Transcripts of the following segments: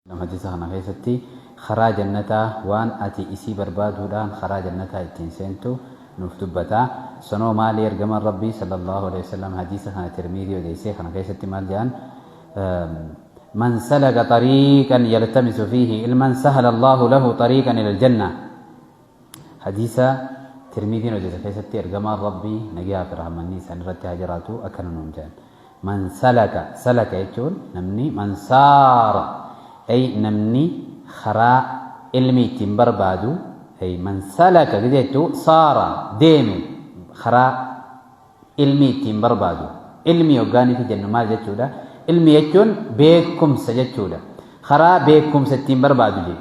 Hadiisa kana keessatti karaa jannataa waan ati isii barbaaduudhaan karaa jannataa ittiin seentu nuuf dubbata. Sanoo maali ergamaan Rabbii sallallahu aleyhi wasallam hadiisa kana Tirmiizii odeessee kana keessatti maal jedhan? Man salaka xariiqan yaltamisu fiihi ilman sahala Allaahu lahu xariiqan ilal jannaa. Hadiisa Tirmiidiin odeesse keessatti Ergamaan Rabbii nagaa fi rahmanni isaan irratti haa jiraatu akkana nuun jedhan. Man salaka, salaka jechuun namni man saara, ay namni karaa ilmi ittiin barbaadu, ay man salaka gizee jechuu saara deeme karaa Ilmii ittiin barbaadu. Ilmii hoggaa nuti jennu maal jechuudha? Ilmii jechuun beekumsa jechuudha. Karaa beekumsa ittiin barbaadu jee.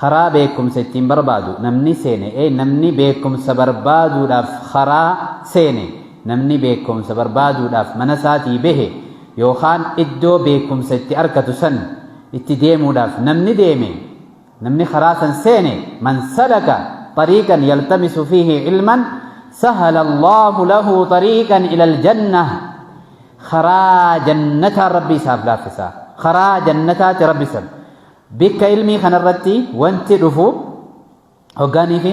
Karaa beekumsa ittiin barbaadu namni seene ee namni beekumsa barbaaduudhaaf karaa seene namni beekumsa barbaaduudhaaf mana isaatii bahe yookaan iddoo beekumsa itti arkatu san itti deemuudhaaf namni deeme namni karaa san seene man salaka xariiqan yaltamisu fiihi ilman sahala allaahu lahu xariiqan ila aljanna karaa jannataa rabbi isaaf laaffisa karaa jannataati rabbi san bikka ilmii kanarratti wanti dhufu hoggaanii fi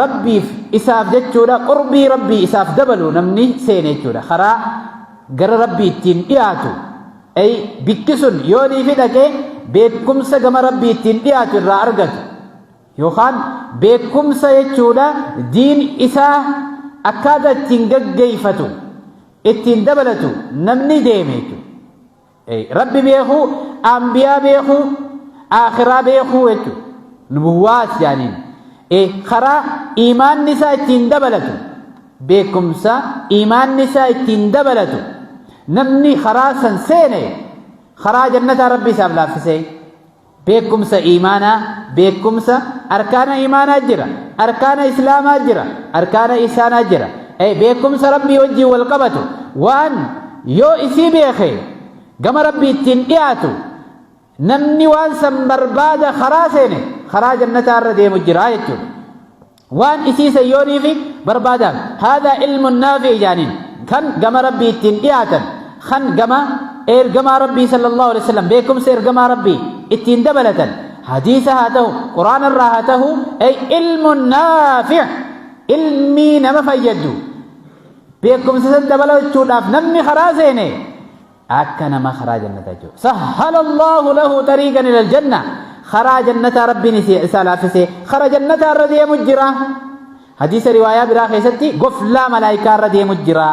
rabbiif isaaf jechuudha qurbii rabbii isaaf dabalu namni seene jechuudha karaa gara rabbii ittiin dhiyaatu ay bikki sun yoo niifi dhaqe beekumsa gama rabbii ittiin dhiyaatu irraa argatu yookaan beekumsa jechuudha diin isaa akkaataa ittiin gaggeeffatu ittiin dabalatu namni deeme jechuudha Rabbi beekuu, anbiyaa beekuu, aakhiraa beekuu jechuudha. Nubuwwaas jaaniin. Karaa imaanni isaa ittiin dabalatu, beekumsa imaanni isaa ittiin dabalatu, namni karaa san seene karaa jannataa Rabbi isaaf laaffisee. Beekkumsa iimaanaa, beekkumsa arkaana iimaanaa jira, arkaana islaamaa jira, arkaana ihsaanaa jira. Ee, beekkumsa Rabbii wajjin wal qabatu waan yoo isii beeke gama Rabbii ittiin dhiyaatu namni waan san barbaada karaa seene karaa jannataa irra deemu jira jechuudha. Waan isii san yoo niifi barbaadaan haadhaa ilmun naafi jaaniin kan gama rabbii ittiin dhiyaatan kan gama ergamaa rabbii sallallahu alaihi wasallam beekumsa ergamaa rabbii ittiin dabalatan hadiisa haa ta'u quraana irraa haa ta'u ay ilmun naafi ilmii nama fayyaddu beekumsa san dabalachuudhaaf namni karaa seene akka nama karaa jannataa jiru sahhala allahu lahu tariiqan ila aljanna karaa jannataa rabbiin isi- isaa laaffise kara jannataa irra deemu jira hadiisa riwaayaa biraa keessatti goflaa malaayikaa irra deemu jira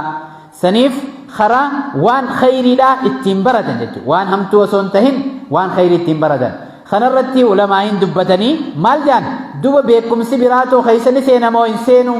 saniif karaa waan khayriidhaa ittiin baratan jechuudha waan hamtuu osoo hin tahin waan khayrii ittiin baratan kanarratti ulamaa'iin dubbatanii maal jedhan duba beekumsi biraatoo keessa ni seenamoo hin seenuu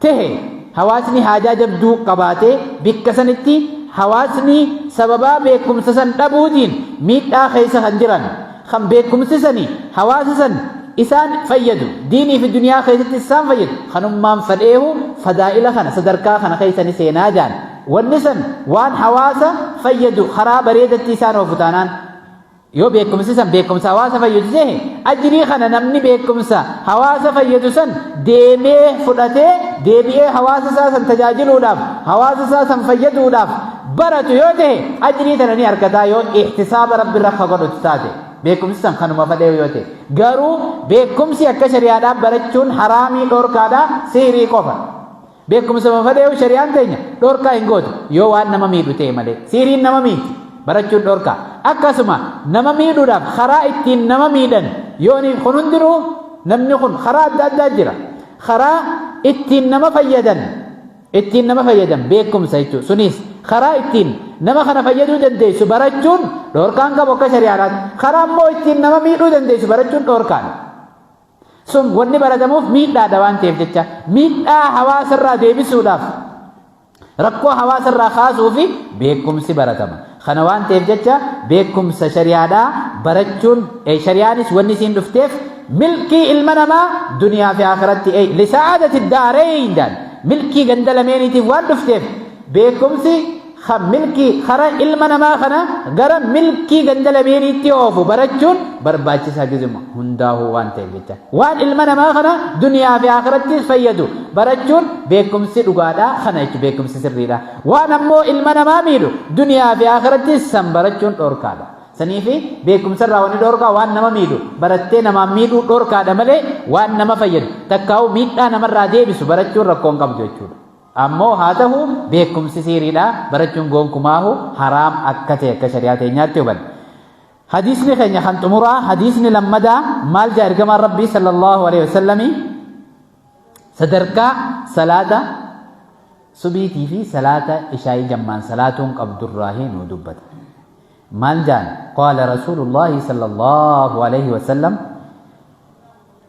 tehe hawaasni haajaa jabduu qabaatee bikka sanitti hawaasni sababaa beekumsa san dhabuutiin miidhaa keessa kan jiran kan beekumsi sani hawaasa san isaan fayyadu diinii fi duniyaa keessatti isaan fayyadu kanummaan fadheehu fadaa'ila kana sadarkaa kana keessa ni seenaa jaan wanni san waan hawaasa fayyadu karaa bareedatti isaan oofu taanaan Yoo beekumsi san beekumsa hawaasa fayyadu ta'e ajrii kana namni beekumsa hawaasa fayyadu san deemee fudhatee deebi'ee hawaasa isaa san tajaajiluudhaaf hawaasa isaa san fayyaduudhaaf baratu yoo ta'e ajrii tana ni argataa yoo ihtisaaba rabbi irra akka godhutu taate beekumsi san kanuma fadhee yoo ta'e garuu beekumsi akka shari'aadhaan barachuun haraamii dhorkaadhaa sihrii qofa Beekumsa mafadheewu shari'aan teenya dhorkaa hin gootu yoo waan nama miidhu ta'e malee siiriin nama miidhi barachuun dhorkaa akkasuma nama miidhuudhaaf karaa ittiin nama miidhan yoo ni kun hundinuu namni kun karaa adda addaa jira karaa ittiin nama fayyadan ittiin nama fayyadan beekumsa jechuudha sunis karaa ittiin nama kana fayyaduu dandeessu barachuun dhorkaan qabu akka shari'aadhaatti karaa immoo ittiin nama miidhuu dandeessu barachuun dhorkaadha. Sun wanni baratamuuf miidhaadha waan ta'eef jecha miidhaa hawaasarraa deebisuudhaaf rakkoo hawaasarraa kaasuu fi beekumsi baratama. Kana waan ta'eef jecha beekumsa shari'aadhaa barachuun shari'aanis wanni isiin dhufteef milkii ilma namaa duniyaa fi akhiratti lisa'aadati daareeyndaan milkii ganda lameeniitiif waan dhufteef Beekumsi kan milkii kara ilma namaa kana gara milkii ganda lameeniitti oofu barachuun barbaachisaa gizuma hundaahuu waan ta'eef jecha waan ilma namaa kana duniyaa fi akirattis fayyadu barachuun beekumsi dhugaadha kana jechuun beekumsi sirriidha waan ammoo ilma namaa miidhu duniyaa fi akirattis san barachuun dhorkaadha. Saniifi beekumsarraa wanni dhorkaa waan nama miidhu barattee namaan miidhuu dhorkaadha malee waan nama fayyadu takkaa'uu miidhaa namarraa deebisu barachuun rakkoo hin qabdu jechuudha. Ammoo haa tahu beekumsi siiriidha barachuun goonkumaahu haraam akka ta'e akka shari'aa teenyaatti hubanne. Hadiisni keenya kan xumuraa hadiisni lammadaa maal jaa ergamaan rabbii sallallahu alaihi wasallamii sadarkaa salaata subiitii fi salaata ishaa'ii jammaan salaatuun qabdurraahi nu dubbata. Maal jaan qaala rasuulullaahi sallallahu alaihi wasallam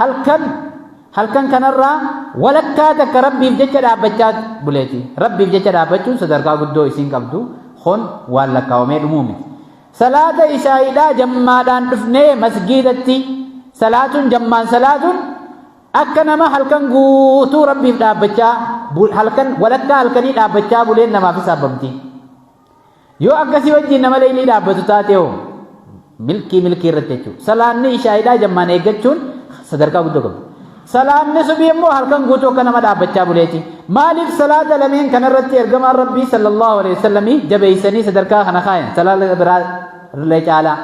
Halkan halkan kanarraa walakkaa takka rabbiif jecha dhaabbachaa buleeti. Rabbiif jecha dhaabbachuun sadarkaa guddoo isiin qabdu kun waan lakkaawamee dhumuu miti. Salaata ishaa'iidhaa jammaadhaan dhufnee masgiidatti salaatuun jammaan salaatuun akka nama halkan guutuu rabbiif dhaabbachaa halkan walakkaa halkanii dhaabbachaa buleen namaaf hisaabamti. Yoo akkasii wajjin nama leeylii dhaabbatu taate hoo milkii milkii irratti jechuudha. Salaanni ishaa'iidhaa jammaan eeggachuun sadarkaa guddoo qabdi. Salaanni subii immoo halkan guutuu akka nama dhaabbachaa buleeti. Maaliif salaata lameen kanarratti ergamaan Rabbii sallallahu alaihi wasallamii jabeessanii sadarkaa kana kaayan salaata biraa illee caalaa.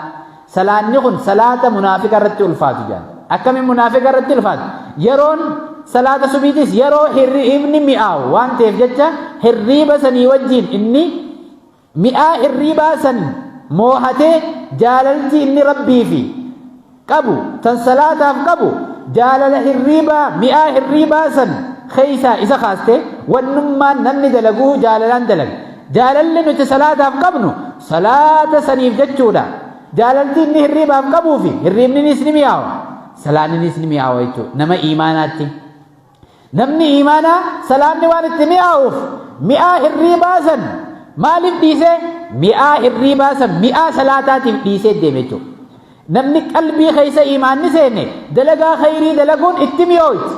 Salaanni kun salaata munaafiqa irratti ulfaatu jedhan. Akkamiin munaafiqa irratti ulfaatu? Yeroon salaata subiitis yeroo hirriibni mi'aawu waan ta'eef jecha hirriiba sanii wajjin inni mi'aa hirriibaa san moohatee jaalalti inni rabbii fi qabu tan salaataaf qabu jaalala hirriibaa mi'aa hirriibaa san keessaa isa kaaste wannummaan namni dalaguu jaalalaan dalaga. Jaalalli nuti salaataaf qabnu salaata saniif jechuudha. Jaalalti inni hirriibaaf qabuu fi hirriibninis ni mi'aawa. Salaanninis ni mi'aawa jechuudha. Nama iimaanaatti. Namni iimaanaa salaanni waan itti mi'aawuuf mi'aa hirriibaa san maaliif dhiisee mi'aa hirriibaa san mi'aa salaataatiif dhiisee deeme jechuudha. Namni qalbii keessa iimaanni seene dalagaa khayrii dalaguun itti mi'ooyti.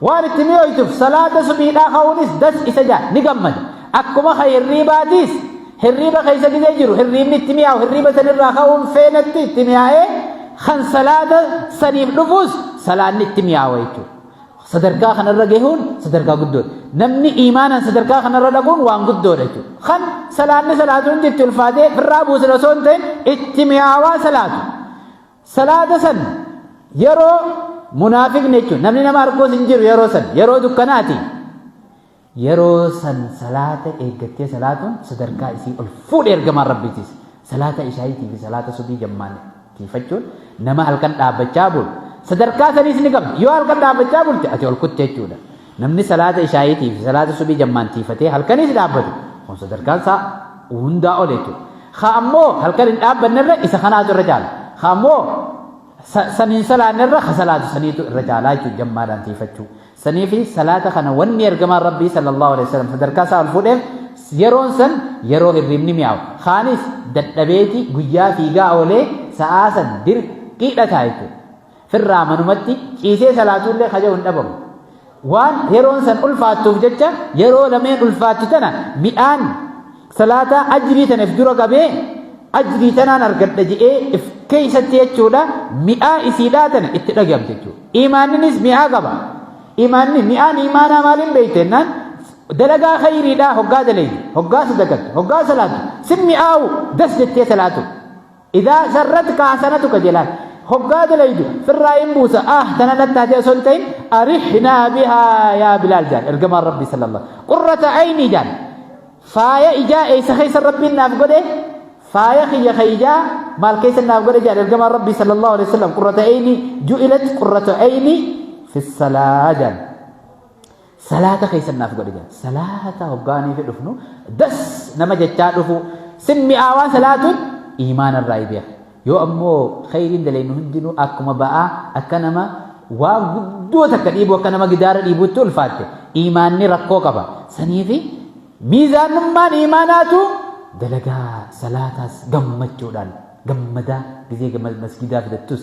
Waan itti mi'ooytuuf salaata subiidhaa ka'uunis das isa ja'a, ni gammada. Akkuma ka hirriibaatiis hirriiba keessa gizee jiru hirriibni itti mi'aawu hirriiba sanirraa ka'uun feenatti itti mi'aa'ee kan salaata saniif dhufuus salaanni itti mi'aawa jechuudha. Sadarkaa kanarra gahuun sadarkaa guddoodha. Namni iimaanaan sadarkaa kanarra dhaquun waan guddoodha jechuudha. Kan salaanni salaatu hundi itti ulfaatee firraa buusan osoo hin ta'in itti mi'aawaa salaatu. Salaata san yeroo munaafiqni jechuudha. Namni nama arguus hin jiru yeroo san yeroo dukkanaati. Yeroo san salaata eeggattee salaatuun sadarkaa isii ol fuudhe ergamaan rabbiitiis. Salaata ishaayiitii fi salaata subii jammaan tiifachuun nama halkan dhaabbachaa bulu sadarkaa saniis ni qabdi. Yoo halkan dhaabbachaa bulte ati ol kutte jechuudha. Namni salaata ishaayiitii fi salaata subii jammaan tiifatee halkaniis dhaabbatu kun sadarkaan isaa hundaa ol jechuudha. Haa ammoo halkan hin dhaabbanne irra isa kanaatu irra caala. Haa ammoo saniin salaanne irra ha salaatu saniitu irra caalaa jechuudha jammaadhaan tiifachuu. sanii fi salaata kana wanni ergamaan rabbii sallallahu alaihi wasallam sadarkaa isaa ol fuudheef yeroon san yeroo hirribni mi'aawu kaanis dadhabeeti guyyaa fiigaa oolee sa'aa san dirqiidha ta'a jechuudha firraa manumatti ciisee salaatuullee kaja hin dhabamu waan yeroon san ulfaattuuf jecha yeroo lameen ulfaatti tana midhaan Salaataa ajrii tana if dura qabee ajrii tanaan argadha je'ee if keessatti jechuudha mi'aa isiidhaa tana itti dhagahamte jechuudha. Imaanninis mi'aa qaba. Imaanni mi'aan imaanaa maaliin beeyte jennaan dalagaa khayriidhaa hoggaa daleeyde hoggaa sadaqattu hoggaa salaatu sin mi'aawu das jettee salaatu. Idaa sarratka hasanatuka jelaan hoggaa dalaydu firraa in buusa ah tana natti hatee osoo hin ta'in arihnaa bihaa yaa bilaal jaan ergamaan rabbii sallallahu qurrata aynii jaan faaya ijaa eeysa keessa rabbiin naaf godhe faaya kiyya ka ijaa maal keessa naaf godhe jaan ergamaan rabbii sallallahu alaihi wasallam qurrata aynii ju'ilat qurrata aynii fi salaa jaan Salaata keessan naaf godhi jedha. Salaata hoggaanii fi dhufnu das nama jechaa dhufu sin mi'aawaa salaatuun imaana irraa ibi'a. Yoo ammoo kheyriin daleennu hundinuu akkuma ba'aa akka nama waan guddoo takka dhiibuu akka nama gidaara dhiibuutti ulfaatte imaanni rakkoo qaba. Saniifi miizaanummaan imaanaatu dalagaa salaataas gammachuudhaan gammadaa gizee masgidaa fidattus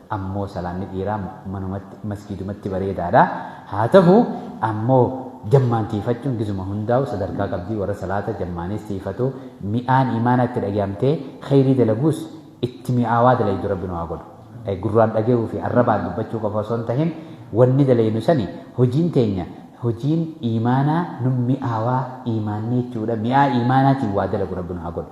ammoo salaanni dhiiraa manumatti masgiidumatti bareedaadha haa tahu ammoo jammaan tiifachuun gizuma hundaa'u sadarkaa qabdii warra salaata jammaanis tiifatu mi'aan imaanaa itti dhagayamtee khayrii dalaguus itti mi'aawaa dalaydu rabbi nu haa godhu gurraan dhagayuu fi arrabaan dubbachuu qofa osoo hin tahin wanni dalaynu sani hojiin teenya hojiin imaanaa nu mi'aawaa imaanni jechuudha mi'aa imaanaatiin waa dalagu rabbi nu haa godhu